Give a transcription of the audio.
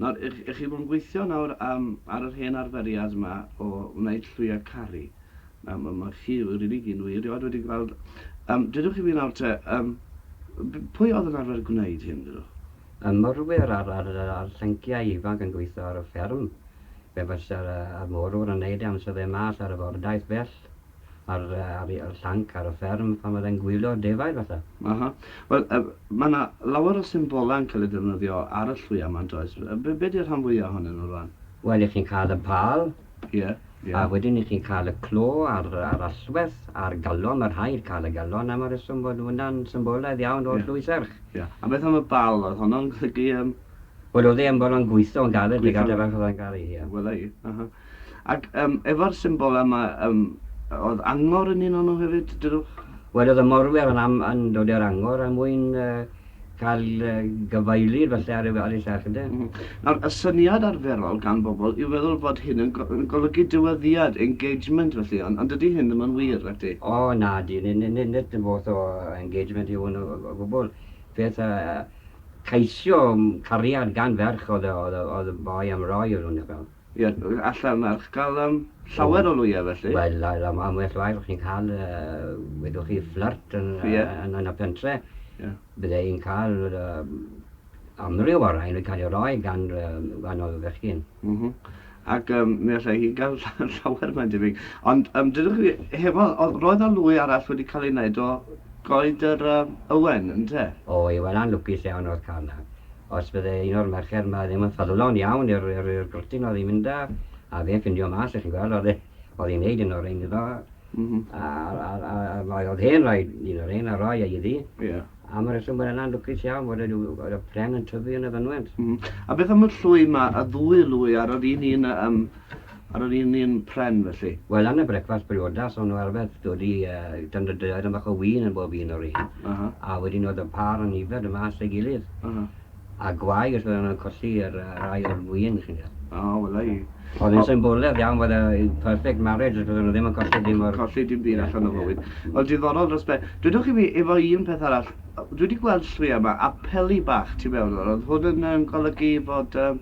Nawr, y'ch chi fod yn gweithio nawr am, ar yr hen arferiad 'ma o wneud llwyau caru. Nawr, ma' ma' chi rili gyn wir, rioed wedi gweld... Yym, dudwch i fi nawr te, yym, b- pwy oedd yn arfer gwneud hyn, dudwch? Y morwyr a'r a'r a'r llanciau ifanc yn gweithio ar y fferm. Fe fysa'r yy y morwr yn neud e amser fe mas ar y fordaith fell. ar ar y llanc ar y fferm pan oedd e'n gwylio defaid falle. Aha. Wel yy ma' 'na lawer o symbolau yn cael eu defnyddio ar y llwyau 'ma yndoes? Yy be' be' 'di'r rhan fwya ohonyn nhw rwan? Wel 'ych chi'n cael y pâl. Ie, ie. A wedyn 'ych chi'n cael y clo a'r a'r allwedd a'r galon, ma' rhaid cael y galon am y reswm fod hwnna'n symbolaidd iawn o'r llwy serch. Ie. A beth am y bâl, oedd honno'n golygu yym... Wel oedd e yn bron yn gweithio'n galed i gadw fe achos oedd e'n garu, ie. Wela i, aha. Ac yym efo'r symbol yma yym oedd angor yn un onno hefyd dydwch? Wel oedd y morwyr yn am yn dod i'r angor er mwyn yy cael yy gyfeilydd falle ar ei ar ei serch ynde? M-hm. Nawr y syniad arferol gan bobl yw feddwl fod hyn yn go- yn golygu dyweddiad, engagement felly ond ond dydy hyn ddim yn wir nacdi? O nadi ni- ni- ni- nid y fath o engagement yw hwn o o o gwbl. Peth yy yy ceisio cariad gan ferch oedd y oedd y oedd y boi am roi iddyn nhw neu fel. Ie, alla mae'r ysgol llawer o lwyau felly. Wel, am well rai o'ch chi'n cael, wedoch chi, fflirt yn y pentre', bydde i'n cael amryw o rain yn cael ei roi gan wahanol fechgyn. Ac mi allai hi gael llawer mae'n debyg. Ond dydych chi hefo, roedd 'na lwy arall wedi cael ei wneud o goed yr ywen, ynte? O, Iwena'n lwcus iawn oedd Carla. os bydde un o'r merched 'ma ddim yn ffyddlon iawn i'r i'r i'r gwrtyn oedd hi'n mynd â, a fe'n ffindio mas, chi'n gweld, oedd e, oedd hi'n neud un o'r rhein iddo, Mhm. a, a, a, a mae oedd hen rhaid un o'r rhein a roi e iddi. Ie. Am y reswm bod yna'n lwcus iawn bod y, oedd y pren yn tyfu yn y fynwent. Mhm. A beth am y llwy 'ma, y ddwy lwy ar yr un un, yy, yym, Ar yr un un pren felly? Wel yn y brecwast briodas o'n nhw arfer dod i yy dan y daearyn bach o win yn bob un o'r un. Aha. A wedyn oedd y pâr yn yfed yn mas ei gilydd. Aha. A gwae os oedden nhw'n colli yr yy rai o'r win chi'n gweld. O wela i. Oedd yn symboledd iawn fod y perfect marriage os oedden nhw ddim yn colli dim o'r... Colli dim byd allan o fywyd. Wel diddorol dros ben. Dwedwch i mi efo un peth arall dwi wedi gweld llwya yma a peli bach tu mewn oedd hwn yn yym golygu fod yym